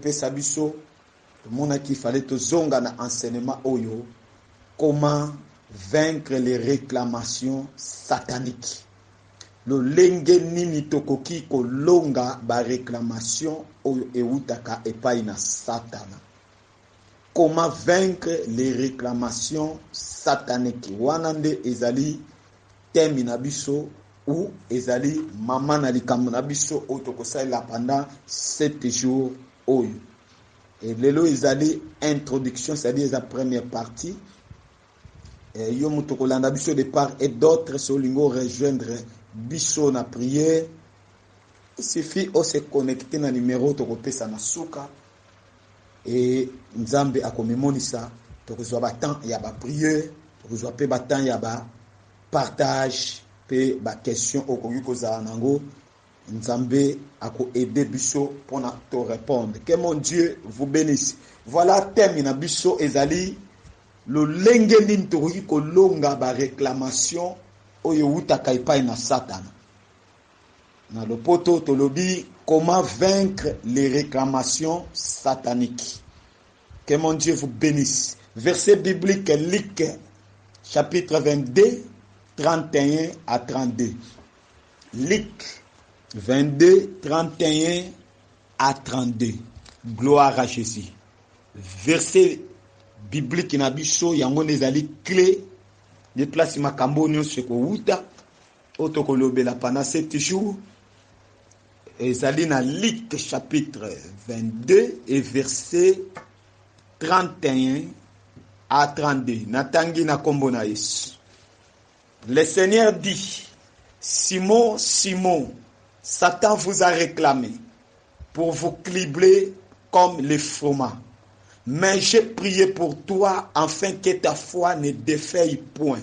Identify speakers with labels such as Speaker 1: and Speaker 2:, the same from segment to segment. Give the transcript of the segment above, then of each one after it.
Speaker 1: pesa biso tomonaki il fallait tozonga na enseignement oyo comment vaincre les réclamations sataniques lolenge nini tokoki kolonga bareklamatio oyo ewutaka epai na satana Comment vaincre les reclamations sataniques? Wana nde ezali thème na biso ou ezali mama na likambo na biso oyo tokosalela pendant 7 jours oyo. Et lelo ezali introduction, c'est-à-dire eza première partie. Et yo moto kolanda biso de part et d'autre, si olingi rejoindre biso na prière, il suffit o se connecter na numéro tokopesa na suka Et Nzambe akomimonisa, tokozua ba temps ya ba priere, tokozua pe ba temps ya ba partage pe ba question okoki kozala nango, Nzambe ako aide biso pona to repondre. Que mon Dieu vous benisse. Voila theme na biso ezali lolenge nini tokoki kolonga ba reclamation oyo ewutaka epayi na satana. Na lopoto tolobi comment vaincre les reclamations sataniques. Que mon Dieu vous benisse. Verset biblique Luc chapitre 22 31 à 32. Luc 22 31 à 32. Gloire à Jésus. Verset biblique na biso yango nde ezali clé nde place makambo oyo nyonso ekowuta Oyo tokolobela pendant sept jours ezali na Luc chapitre 22 et verset 31 à 32. Natangi na kombo na Yesu. Le Seigneur dit, Simon, Simon, Satan vous a réclamé pour vous cribler comme les fromages. Mais j'ai prié pour toi afin que ta foi ne défaille point.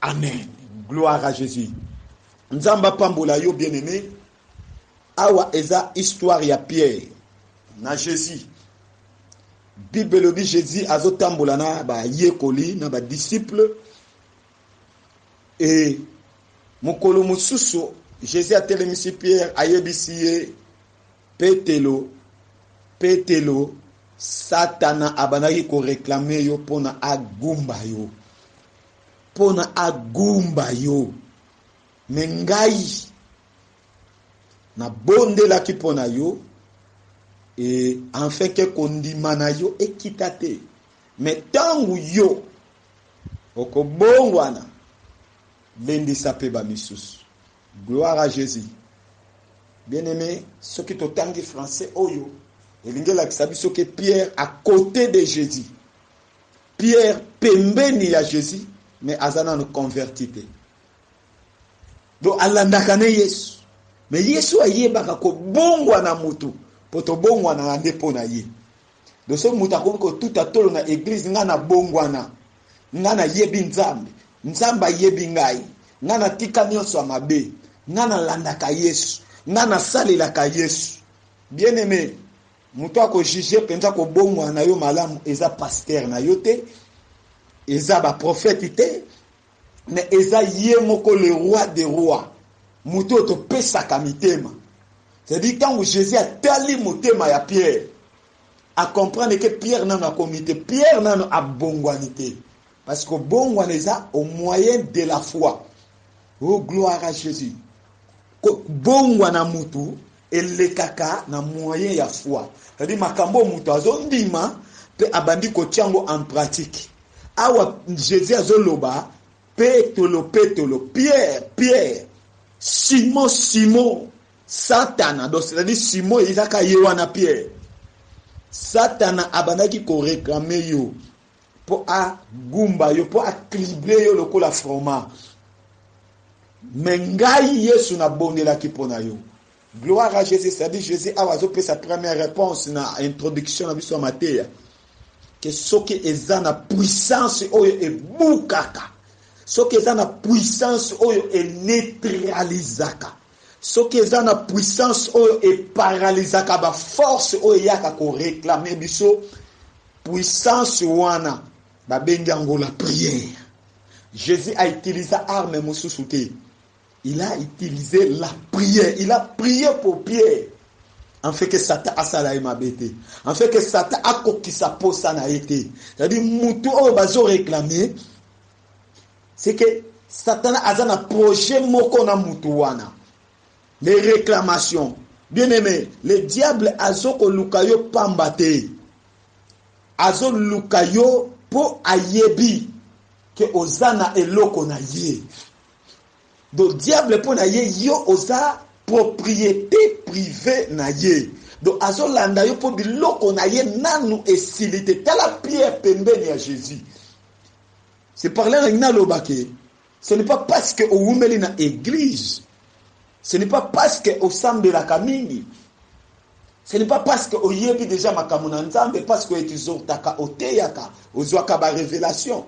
Speaker 1: Amen. Gloire à Jésus. Nzambe apambola yo bien aimé. Awa eza histoire ya Pierre na Jésus. Bible elobi Jésus azotambola na bayekoli na badisciple e mokolo mosusu Jésus atelemisi Pierre ayebisi ye Petelo Petelo Satana abandaki koreklame yo mpo na agumba yo mpo na agumba yo. Me ngai nabondelaki mpo na yo e enfin ke kondima na yo ekita te me ntango yo okobongwana lendisa mpe bamisusu gloire à jésus bien aimé soki totangi français oyo elingi elakisa biso ke pierre à côté de jésus Pierre pembeni ya Jesus mais aza nanu converti te. Donc alandaka ne Yesu. Mais Yesu ayebaka kobongwa na mutu po tobongwanaka nde mpo na ye. Donc soki mutu akomi kotuta tolo na eglise ngai nabongwana, ngai nayebi Nzambe, Nzambe ayebi ngai, ngai natika nyonso ya mabe, ngai nalandaka Yesu, ngai nasalelaka Yesu. Bien aime, Mutu ako juger penza kobongwana na yo malamu eza pasteur na yo te, eza ba prophète te, mais eza ye moko le roi de roi, mutu oyo topesaka mitema. C'est à dire tango Jesus atali motema ya Pierre, a comprendre que Pierre nanu akomi te, Pierre nanu abongwani te. Parce que bongwana eza au moyen de la foi. Oh gloire à Jesus. Ko bongwana mutu elekaka na moyen ya foi. C'est-à-dire makambo mutu azondima pe abandi kotia yango en pratique. Awa Jesus azoloba Petolo, Petolo, Pierre, Pierre, Simon, Simon, Satana. Donc c'est-à-dire Simon ezaka ye wana Pierre. Satana abandaki ko réclamer yo. po a gumba yo po a clibre yo lokola froma me ngai yesu nabondelaki mpo na yo gloire à jésus cetadi jésus awa azopesa première réponse na introduction na biso ya mateya ke soki eza na puissance oyo ebukaka soki eza na puissance oyo eneutralisaka Soki eza na puissance oyo e paralysaka ba forces oyo eyaka ko reclamer biso, puissance wana ba bengi yango la prière. Jesus a utilisa arme mosusu te. Il a utilisé la prière. Il a prié pour Pierre. En fait que Satan asala ye mabe te. En fait que Satan akokisa posa na ye te. C'est-à-dire mutu oyo bazo reclamer c'est que satana aza na projet moko na mutu wana les réclamations bien aimé le diable azo koluka yo pamba te azo luka yo po ayebi ke oza na eloko na ye donc diable mpo na ye yo oza propriété privée na ye donc azolanda yo mpo biloko na ye nanu esili te tala pierre pembeni ya jésus C'est par là nalingi naloba ke ce n'est pas parce que owumeli na eglise ce n'est pas parce que osambelaka mingi ce n'est pas parce que oyebi déjà makambo na nzambe parce que etizortaka oteyaka ozwaka barevelation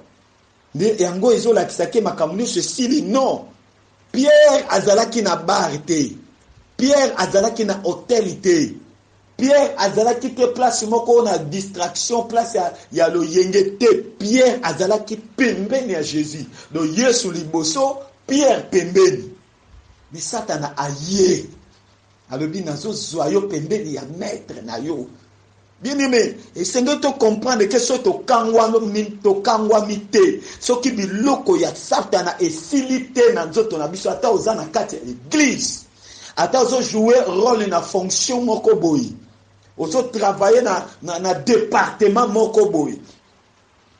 Speaker 1: nde yango ezolakisa ke makambo nyonso esili non pierre azalaki na bar te pierre azalaki na hotel te Pierre azalaki pe place moko na distraction place ya, ya loyenge te. Pierre azalaki pembeni ya Jesus. Donc Yesu liboso, Pierre pembeni. Mais Satana aye alobi nazozwa yo pembeni ya maître na yo. Bien aimé, esengeli to comprendre ke soki tokangwami tokangwami te, soki biloko ya Satana esili te na nzoto na biso, ata oza na kati ya eglise Ata ozo jouer role na fonction moko boye, ozo travailler na, na, na departement moko boye,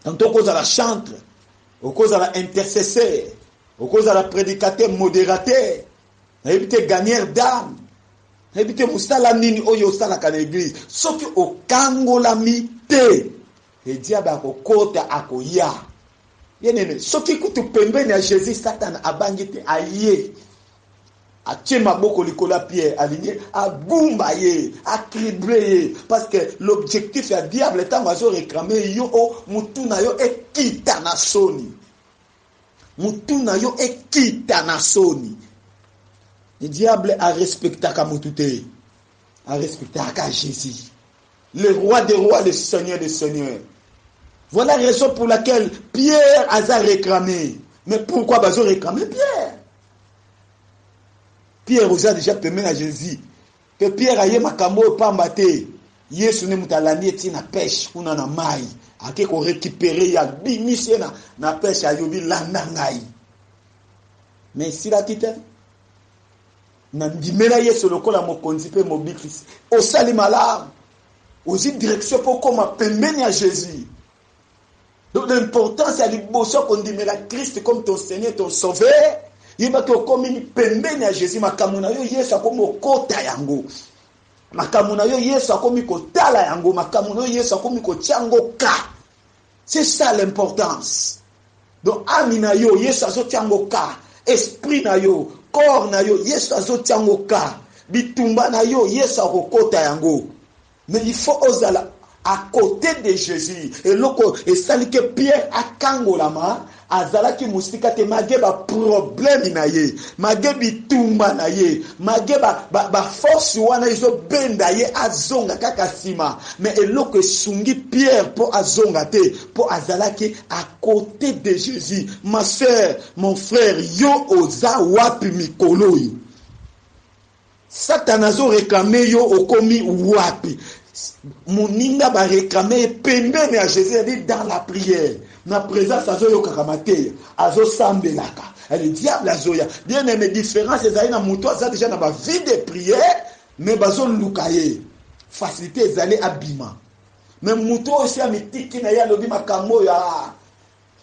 Speaker 1: tanto okozala chantre, okozala intercesseur, okozala predicateur, moderateur, nayebi te gagneur d'âme, nayebi te mosala nini oyo osalaka na eglise, soki okangolami te, ediabe akokota akoya. Bien aime, soki kutu pembeni ya Jesus, Satana abangi te, aye. Atie maboko likolo ya Pierre alingi agumba ye, a tribler ye parce que l'objectif ya diable tango azo reclame yo o mutu na yo ekita na soni. Mutu na yo ekita na soni. Diable a respectaka mutu te. A respectaka Jesus. Le roi des rois, le seigneur des seigneurs. Voilà raison pour laquelle Pierre aza reclame. Mais pourquoi bazo reclame Pierre? Pierre oza deja pembeni na Jesus pe Pierre aye makambo oyo pamba te Yesu nde moto alandi ye ti na peshe kuna na mai ake korekipere ye abimisi ye na, na peshe ayobi landa ngai me esilaki te nandimela Yesu lokola mokonzi pe mobikisi osali malamu ozwi direction mpo okoma pembeni ya Jesus Donc l'importance ya liboso ya kondimela Christ comme ton Seigneur, ton Sauveur, yeba ke okomi pembeni ya Jésus, makambo na yo Yesu akomi okota yango. Makambo na yo Yesu akomi kotala yango, makambo na yo Yesu akomi kotya yango ka. C'est ça l'importance. Donc ami na yo Yesu azotya yango ka, esprit na yo, corps na yo Yesu azotya yango ka, bitumba na yo Yesu akokota yango. Mais il faut ozala à cote de Jesus eloko esali ke Pierre akangolama azalaki musika te mage ba problème na ye mage bitumba na ye mage ba, ba, ba force wana ezo benda ye azonga kaka sima mais eloko esungi Pierre po azonga te po azalaki à cote de Jesus ma sœur mon frère yo oza wapi mikolo yo Satana azo reclamer yo okomi wapi? Moninga ba reclamer ye pembeni ya Jesus, c'est-à-dire dans la prière. Na presence azo yokaka mateya, azo sambelaka. Et le diable azo ya. Bien aimé, différence ezali na moto aza déjà na ba vie de prière, mais bazo luka ye. Facilité ezali abima. Mais moto oyo si amitiki na ye alobi makambo oyo ah,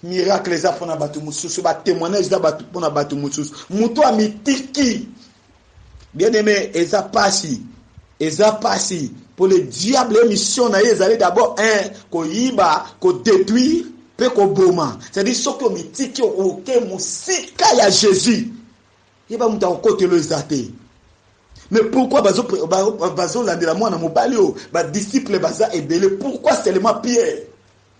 Speaker 1: Miracle eza pona batu mususu, ba temoignage eza batu pona batu mususu. Mutu amitiki. Bien aime eza pasi. Eza pasi. Pour le diable emission na ye ezali d'abord un koyiba, ko detruire pe koboma. C'est-à-dire soki omitiki oke musika ya Jesus. Yeba mutu akokotelo eza te. Mais pourquoi bazo bazo landela mwana mobali oyo ba disciples baza ebele pourquoi seulement Pierre?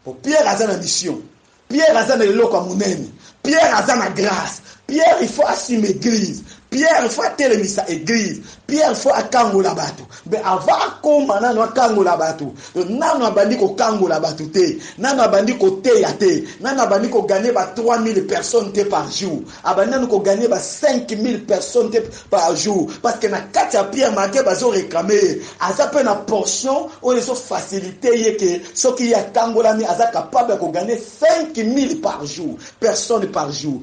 Speaker 1: Po Pierre aza na mission. Pierre aza na eloko ya munene. Pierre aza na grace. Pierre il faut asime eglise. Pierre il faut atelemisa eglise. Pierre il faut akangola batu. Mais avant akoma nanu akangola batu. Nanu abandi kokangola batu te. Nanu abandi koteya te. Nanu abandi ko gagner ba 3000 personnes te par jour. Abandi nanu ko gagner ba 5000 personnes te par jour parce que na kati ya Pierre Marquet bazo reclamer ye aza pe na portion oyo ezo faciliter ye que soki ye atangolami aza capable ya ko gagner 5000 par jour personnes par jour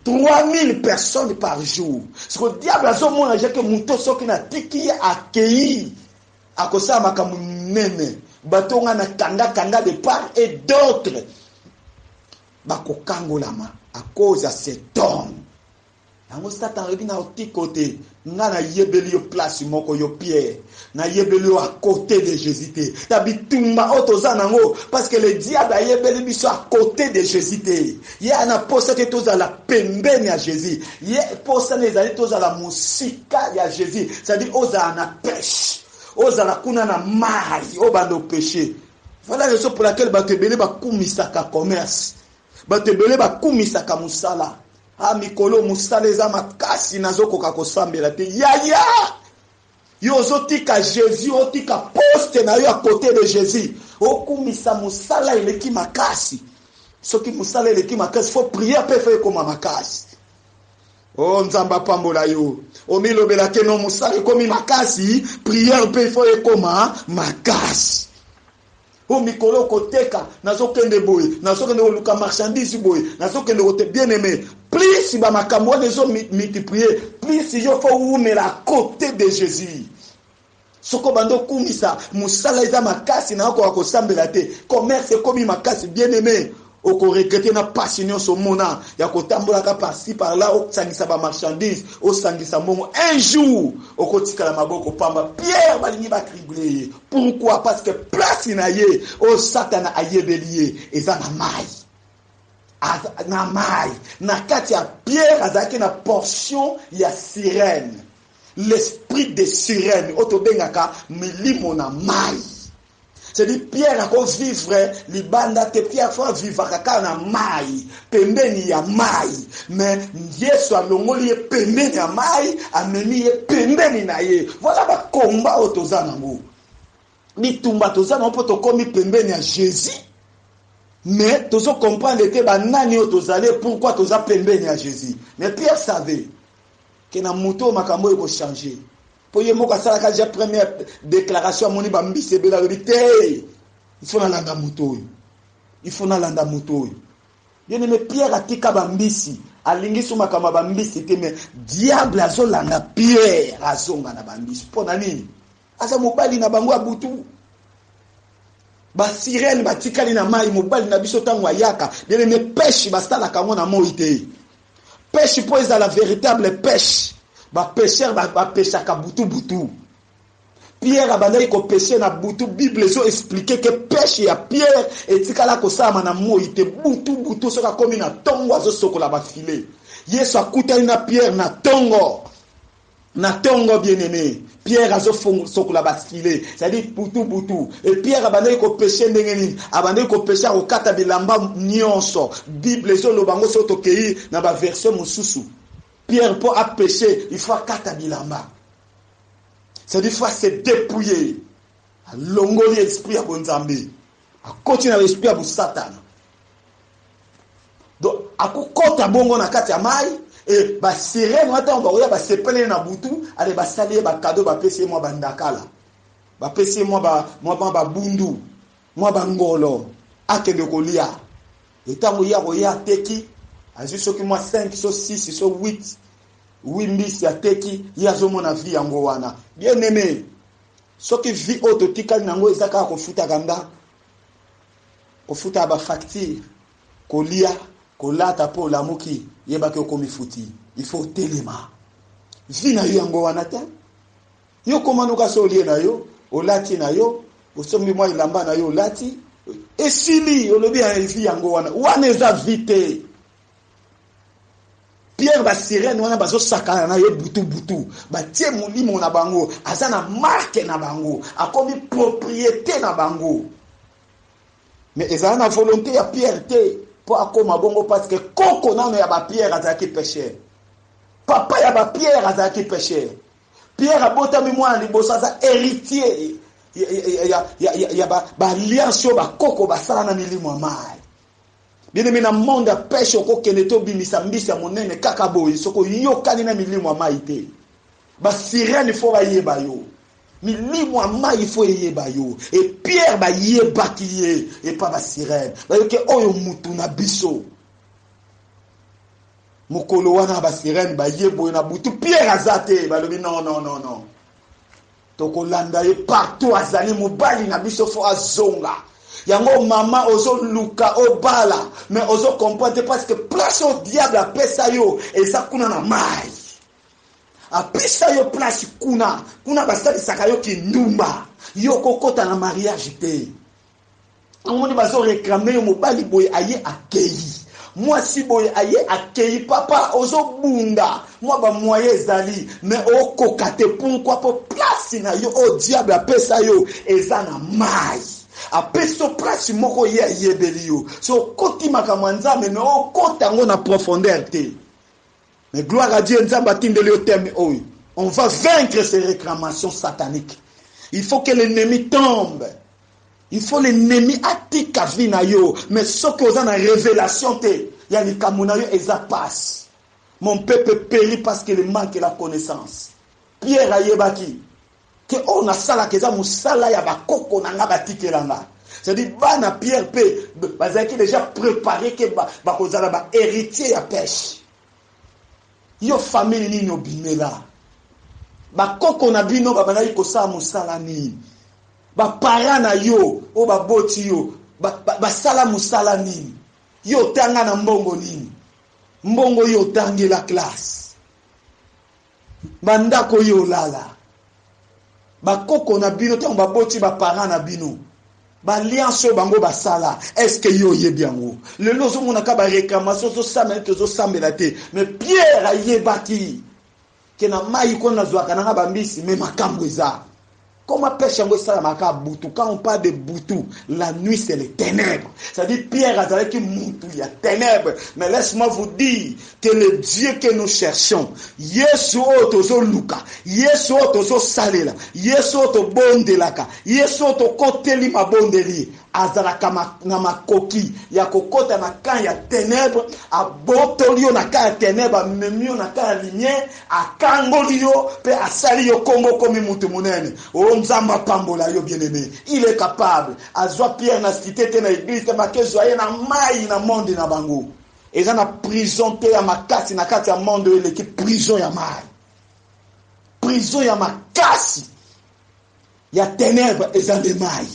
Speaker 1: 3000 personnes par jour siko diable azo mona je que moto soki na tiki ye akeyi akosala makambo nene bato nga na kanga kanga de part et d'autres bakokangolama à cause ya cet homme yango satan alobi na otiko te nga nayebeli yo place moko yo pierre nayebeli yo à côté de jésus te na bitumba oyo toza nango parce que le diable ayebeli biso à côté de jésus te ye ana posa te tozala pembeni ya jésus ye posa na ezali tozala mosika ya jésus c'est-à-dire ozala na pêche ozala kuna na mai obanda opeshe Voilà raison pour laquelle bato ebele bakumisaka commerce, bato ebele bakumisaka mosala. Ah, mikolo mosala eza makasi, nazokoka kosambela te. Yaya! Yo ozotika Jésus, otika poste na yo à côté de Jésus. Okumisa mosala eleki makasi. Soki mosala eleki makasi, faut prier pe faut ekoma makasi. Oh nzambe apambola yo omilobela ke no mosala ekomi makasi priere mpe ifo ekoma makasi o mikolo koteka nazokende boye nazokende koluka marchandise boye nazokende kote bien aime plus bamakambo wana ezo multiplier plus yo fo wumela cote de jésus Soki obandi okumisa musala eza makasi na okoka kosambela te commerce ekomi makasi bien aime okoregrete na pasi nionso omona ya kotambolaka parci parla osangisa ba marchandise osangisa mbongo un jour okotikala maboko pamba Pierre balingi ba tribule ye pourquoi parce que place na ye oyo satana ayebeli ye eza na mai na mai na kati ya Pierre azalaki na portion ya sirène L'esprit de sirène oyo tobengaka milimo na mayi c'est dit Pierre ako vivre libanda te Pierre fo avivaka kaka na mayi pembeni ya mayi mais Yesu alongoli ye pembeni ya mayi amemi ye pembeni na ye voilà ba combat oyo toza nango bitumba toza nango mpo tokomi pembeni ya Jésus mais tozo comprendre te banani oyo tozali pourquoi toza pembeni ya Jésus mais Pierre savait ke na moto oyo makambo oyo ekochange mpo ye moko asalaka deja première déclaration amoni bambisi ebele alobi te ifo nalanda moto oyo ifo nalanda moto oyo bien aime pierre atika bambisi alingi so makambo ya bambisi te me diable azolanda pierre azonga na bambisi mpo na nini aza mobali na bango ya butu basirene batikali na mai mobali na biso ntango ayaka bien aime peshe basalaka yango na moi te Peche mpo ezala veritable peche, ba pecheurs ba, ba pechaka butu butu. Pierre abandaki ko peche na butu, Bible ezo expliquer que peche ya Pierre etikala kosalama na moyi te, butu butu soki akomi na tongo azo sokola ba filet. Yesu akutani na Pierre na tongo. na tongo bien aime pierre azo sokola ba filet c'est à dire butu butu et pierre abandaki ko peche ndenge nini abandaki ko peche akokata bilamba nyonso bible ezoloba yango soki tokei na ba version mosusu pierre mpo apeche il faut akata bilamba c'est à dire faut se dépouiller alongoli esprit ya bonzambe Akoti na ba esprit ya bosatana. Donc akokota bongo na kati ya mayi et ba sirène wana tango bakoya basepele ye na butu ale basali ye ba cadeau bapesi ye mwa bandakala bapesi ye mwa ba mwa mwa babundu mwa bangolo akende kolia etango ye akoya ateki azwi soki mwa 5 so 6 so 8 wi mbisi ateki ye azomona vi yango wana bien aime Soki vie oyo totikali na yango eza kaka kofutaka ndako, kofutaka ba facture, kolia, kolata mpo olamuki, yeba ke okomi futi. Il faut otelema. Vie na yo yango wana te. Yo koma noka se olie na yo, olati na yo, osombi mwa elamba na yo olati, esili olobi ya vie yango wana. Wana eza vie te. Pierre ba sirène wana bazo sakana na ye butu butu batie molimo na bango aza na marque na bango akomi propriété na bango mais ezala na volonté ya Pierre te mpo akoma bongo parce que koko nano ya ba Pierre azalaki pêcheur papa ya ba Pierre azalaki pêcheur Pierre abotami mwana liboso aza héritier ya, ya, ya, ya, ya ba, ba alliance oyo bakoko basala na milimo ya mai Bien aime na monde ya peshe okokende te obimisa mbisi ya monene kaka boye soki oyokani na milimo ya mai te ba sirene fo bayeba yo milimo ya mai fo eyeba yo e pierre bayebaki ye epa ba sirene bayoki oyo mutu na biso mokolo wana ba sirene baye boye na butu pierre aza te balobi non non non non Tokolanda ye partout azali mobali na biso fo azonga yango mama ozo luka obala mais ozo comprendre te parce que place au diable apesa yo eza kuna na mai apesa yo place kuna kuna basalisaka yo kindumba yo kokota na mariage te omoni bazo reclame yo mobali boye aye akeyi mwasi boye aye akeyi papa ozobunda mwa bamoye ezali me okoka te pourkui mpo place na yo oyo diable apesa yo eza na mai apesi yo place moko ye ayebeli yo so okoti makambo ya nzambe me okota yango na profondeur te Mais gloire à Dieu, Nzambe atindeli yo thème oyo. On va vaincre ces réclamations sataniques. Il faut que l'ennemi tombe. Il faut l'ennemi atika vie na yo. Mais soki oza na révélation te, ya likambo na yo eza passe. Mon peuple périt parce qu'il manque la connaissance. Pierre ayebaki Ke oyo nasalaka eza musala ya ba koko na nga batikela nga. C'est à dire bana Pierre pe bazalaki dejà prepare ke bakozala ba heritier ya peche. Yo famille nini obimela? Ba koko na bino babandaki kosala musala nini? Ba parents na yo oyo baboti yo basala musala nini? Yo otanga na mbongo nini? Mbongo oyo otangela classe? Ba ndako oyo olala ba koko na bino tango ba boti ba parents na bino ba alliance oyo bango basala est-ce que yo oyebi yango? Lelo ozo mona ka ba reclamation ozo sambela neti ozo sambela te mais Pierre ayebaki ke na mayi kuna nazuaka nanga ba mbisi mais makambu eza. Comment pêche yango esalamaka butu quand on parle de butu la nuit c'est les ténèbres c'est-à-dire Pierre azalaki mutu ya ténèbres mais laisse-moi vous dire que le Dieu que nous cherchons Yesu oyo tozoluka Yesu oyo tozosalela Yesu oyo tobondelaka Yesu oyo tokoteli mabondeli azalaka ma, na makoki ya kokota na camp ya ténèbres abotoli yo na camp ya ténèbres amemi yo na camp ya lumière Akangoli yo pe asali yo kombo okomi mutu munene oh nzambe apambola yo bien aime il est capable azua pierre na cite te na eglise te make zua ye na mayi na monde na bango eza na prison te ya makasi na kati ya monde oyo eleki prison ya mayi prison ya makasi ya tenebre eza nde mayi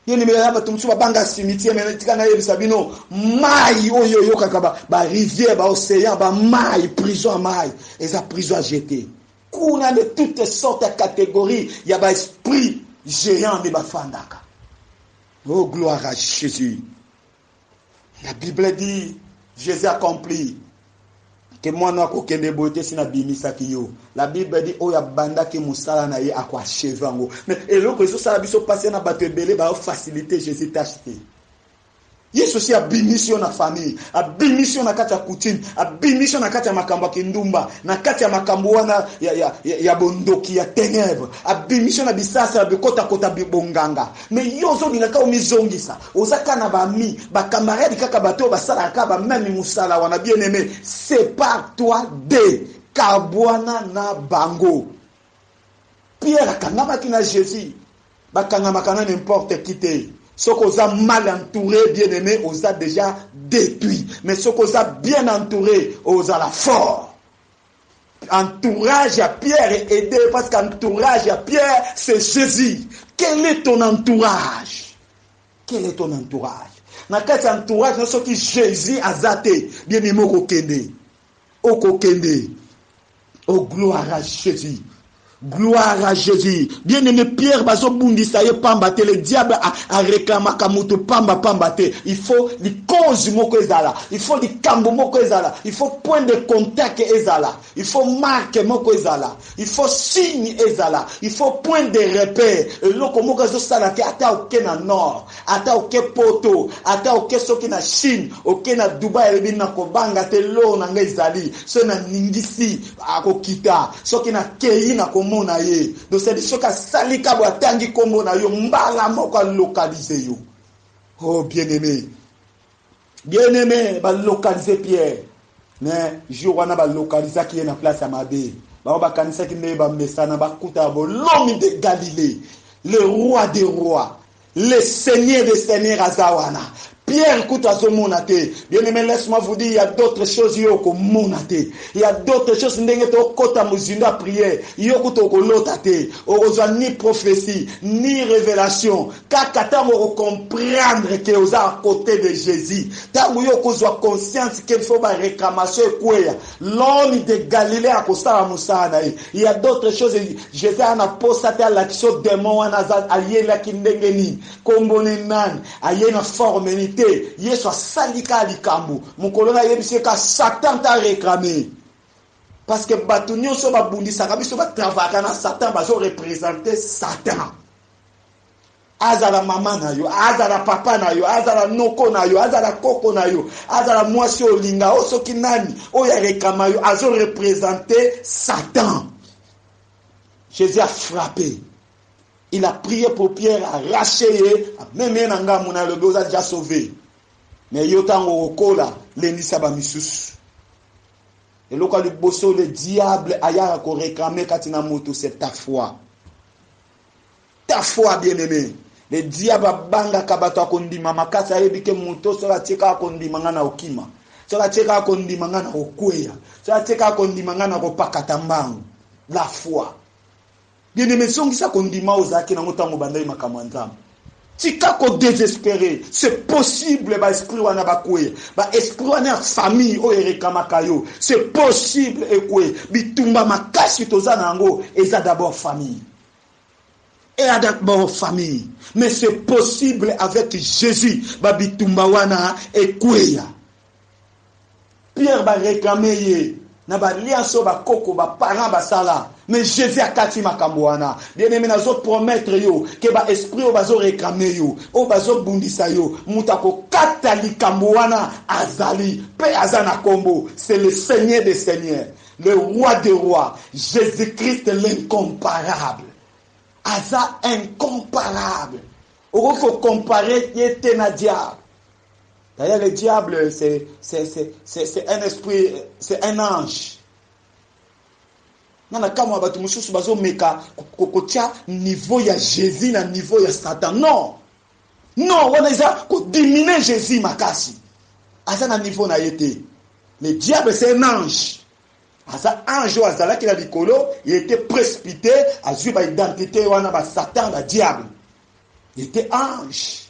Speaker 1: Yo nimela ya bato mosusu babanga cimetière me tika nayebisa bino mai oyo oyokaka barivière baocéan bamai prison ya mai eza prison ya jete kuna nde toute sorte ya catégorie ya baesprit géant nde bafandaka o oh, gloire à jésus La Bible dit, Jesus accompli que mwana akokende boye te si nabimisaki yo la bible dit oyo abandaki mosala na ye akoacheve yango mais eloko ezosala biso mpasi na bato ebele baofacilite jésus tache te yesu si abimisi yo na famille abimisi yo na kati ya coutume abimisi yo na kati ya makambo ya kindumba na kati ya makambo wana ya, ya, ya, ya bondoki ya ténèbre abimisi yo na bisasa ya bikotakota bibonganga mais yo ozolingaka omizongisa Oza kaka na ba amis, ba camarades kaka bato oyo basalaka kaka ba meme musala wana bien aime separe toi de kabuana na bango. Pierre akangamaki na Jesus, bakangamaka na n'importe qui te. Soki oza mal entoure bien aime oza dejà detruit mais soki oza bien entoure ozala fort. Entourage ya Pierre est aidé parce qu'entourage ya Pierre c'est Jésus. Quel est ton entourage? Quel est ton entourage? Na kati ya entourage na soki Jésus aza te, bien meme okokende. Okokende. Oh gloire à Jésus. Gloire à Jesus. Bien aimé Pierre bazo bundisa ye pamba te le diable a, a réclamaka mutu pamba pamba te. Il faut li cause moko ezala. Il faut likambo moko ezala. Il faut point de contact ezala. Il faut marque moko ezala. Il faut signe ezala. Il faut point de repère. Eloko moko ezo sala te ata oke na nord. Ata oke poto, ata oke soki na chine, oke na Dubai alobi nako banga te l'or na nga ezali, soki na ningisi ako kita, soki na keyi nako mona ye, donc c'est à dire soki asali ka boye atangi kombo nayo mbala moko a localise yo oh bien aime. Bien aime ba localise Pierre mais jour wana ba localisaki ye na place ya mabe bango bakanisaki nde bamesana bakuta bolomi de Galilee le roi de roi le seigneur de seigneur aza wana Pierre kutu azomona te bien aime laisse moi vous dire ya d'autres choses yo okomona te ya d'autres choses ndenge tokota mozindo ya prière yo kutu okolota te okozwa ni prophetie ni révélation Kaka tango oko comprendre que oza à cote de Jesus, tango yo okozua conscience que faut ba reclamation ekweya, l'homme de Galilee akosala mosala na ye. Il ya d'autres choses, Jesus aya na posa te alakisa yo demon wana aza, ayelaki ndenge nini, kombo ne nani, aye na forme nini, te, Yesu asali kaka likambo, mokolo wana ayebisi ye kaka Satan nde a reclamer ye. Parce que batu nionso oyo babundisaka biso ba travaillaka na Satan, bazo representer Satan. azala mama na yo azala papa na yo azala noko na yo azala koko na yo azala mwasi olinga o soki nani oyo alekama yo azo represente satan jésus a frappe il a prié pour pierre arrache ye ameme ye na ngambo na alobi oza deja sauve me yo ntango okola lendisa bamisusu eloko ya liboso le diable ayaka koreklame kati na moto c'est ta foi ta foi bien aime le diable abangaka bato ya kondima makasi ayebi ke moto soki atie kaka kondima ngai na okima soki atie kaka kondima ngai na kokweya soki atie kaka kondima ngai na kopakata mbangu la foi bien aime zongisa kondima ozalaki nango ntango obandaki makambo ya nzambe Tika ko desesperer, c'est possible ba esprits wana ba kweya. Ba esprits wana ya famille oyo e reclamaka yo, c'est possible e kweya. Bitumba makasi toza na yango eza d'abord famille. Eza d'abord famille. Mais c'est possible avec Jesus ba bitumba wana e kweya. Pierre ba reclamer ye na ba alliance oyo ba koko ba parents basala mais Jesus akati makambo wana bien aime nazo promettre yo que ba esprit oyo bazo reclamer yo oyo bazo bundisa yo mutu akokata likambo wana azali pe aza na kombo c'est le seigneur de seigneur le roi de roi Jesus Christ l'incomparable aza incomparable okoki ko comparer ye te na diable D'ailleurs le diable c'est c'est c'est c'est c'est un esprit c'est un ange. Nana kama batu mususu bazo meka kotia niveau ya Jésus na niveau ya Satan. Non. Non, wana eza ko diminuer Jésus makasi. Aza na niveau na ye te. Le diable c'est un ange. aza ange oyo azalaki na likolo ye ete précipité azwi baidentité wana basatan badiable ye ete ange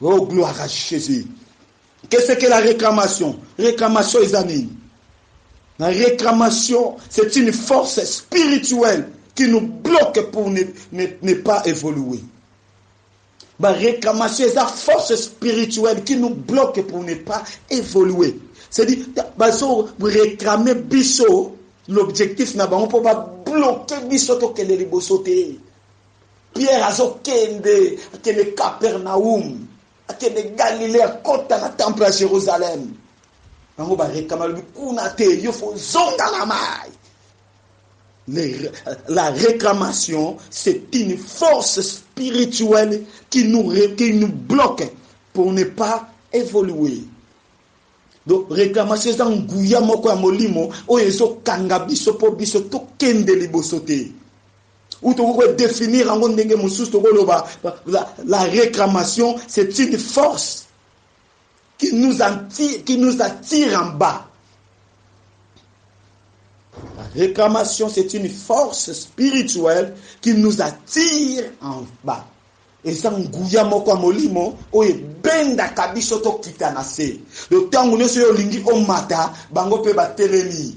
Speaker 1: Oh gloire à Jésus. Que c'est que la réclamation? Réclamation eza nini? La réclamation, c'est une force spirituelle qui nous bloque pour ne, ne, ne pas évoluer. La réclamation, c'est la force spirituelle qui nous bloque pour ne pas évoluer. C'est-à-dire, bazo réclamer biso, l'objectif na bango pour ba bloquer biso to kende liboso te. Pierre azokende, akende Capernaum, akende Galilée, akota na temple ya Jerusalem. Bango barekama lobi kuna te, yo fo zonga na mai. La réclamation, c'est une force spirituelle qui nous, qui nous bloque pour ne pas évoluer. donc réclamation eza nguya moko ya molimo oyo ezokanga biso mpo biso tokende liboso te ou tokoki ko definir yango ndenge mosusu tokoloba la, la réclamation c'est une force qui nous, attire, qui nous attire en bas la réclamation c'est une force spirituelle qui nous attire en bas eza nguya moko ya molimo oyo ebendaka biso tokita na se ntango nyonso oyo olingi omata bango mpe batelemi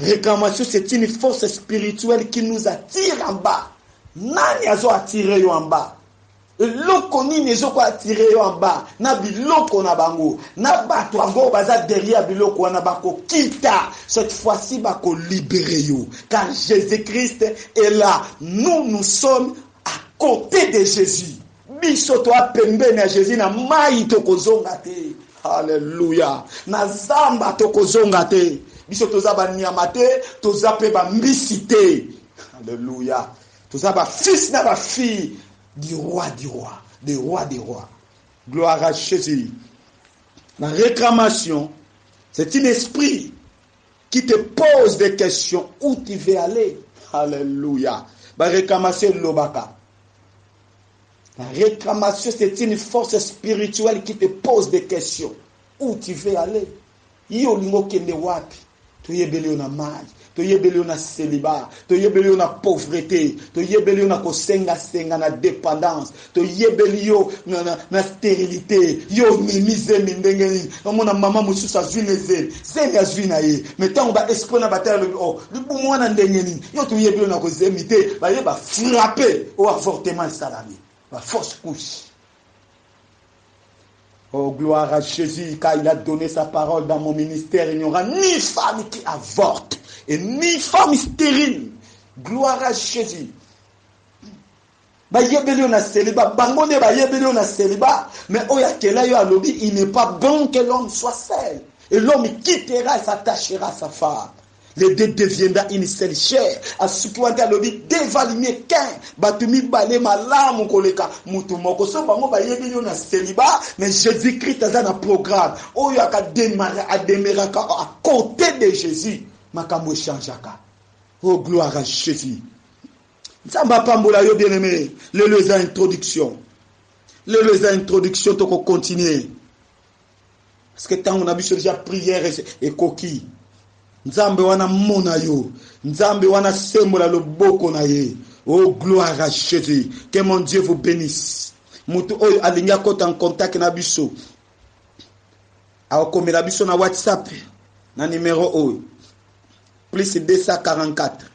Speaker 1: Reclamation c'est une force spirituelle qui nous attire en bas. Nani azo attirer yo en bas? eloko nini ezoko atire yo amba na biloko na bango na bato yango baza derrière biloko wana bakokita cette fois-ci bakolibere yo car jésus-christ est là nous nous sommes à côté de jésus Biso toa pembeni ya Jesus na mayi tokozonga te. Haleluya. Na zamba tokozonga te. Biso toza ba nyama te, toza pe ba mbisi te. Haleluya. Toza ba fils na ba filles du roi du roi, des rois des rois. Gloire à Jésus. La réclamation, c'est un esprit qui te pose des questions où tu veux aller. Alléluia. La réclamation lobaka. La reclamation, c'est une force spirituelle qui te pose des questions. Où tu veux aller? Yo olingo kende wapi? Toyebeli yo na mayi, toyebeli yo na celibat, toyebeli yo na pauvreté, toyebeli yo na kosenga senga na dépendance, toyebeli yo na, na, na stérilité. Yo omemi zemi ndenge nini? Omona mama mosusu azwi na ezemi. Zemi azui na ye mais tango ba escroc na bataille alobi oh libumu wana ndenge nini yo toyebi yo na ko zemi te baye ba frappe oh avortement esalami ba fausse couche Oh, gloire à Jésus, car il a donné sa parole dans mon ministère. Il n'y aura ni femme qui avorte et ni femme stérile. Gloire à Jésus. bayebeli yo na celibat bango nde bayebeli yo na celibat mais oyo akela yo alobi il n'est pas bon que l'homme soit seul et l'homme quittera et s'attachera sa femme les deux deviendra une seule chair asuki wana te alobi deux valent mieux qu'un bato mibale malamu koleka moto moko so bango bayebeli yo na celibat mais jésus christ aza na programme oyo akademara ademeraka à côté de jésus makambo echangeaka oh gloire à jésus Nzambe apambola yo bien aime. Lelo eza introduction. Lelo eza introduction toko continuer. Parce que tango na biso déjà prière ekoki. Nzambe wana mona yo. Nzambe wana sembola loboko na ye. Oh gloire à Jésus. Que mon Dieu vous bénisse. Mutu oyo alingi akota en contact na biso. Akomela biso na WhatsApp na numero oyo. Plus 244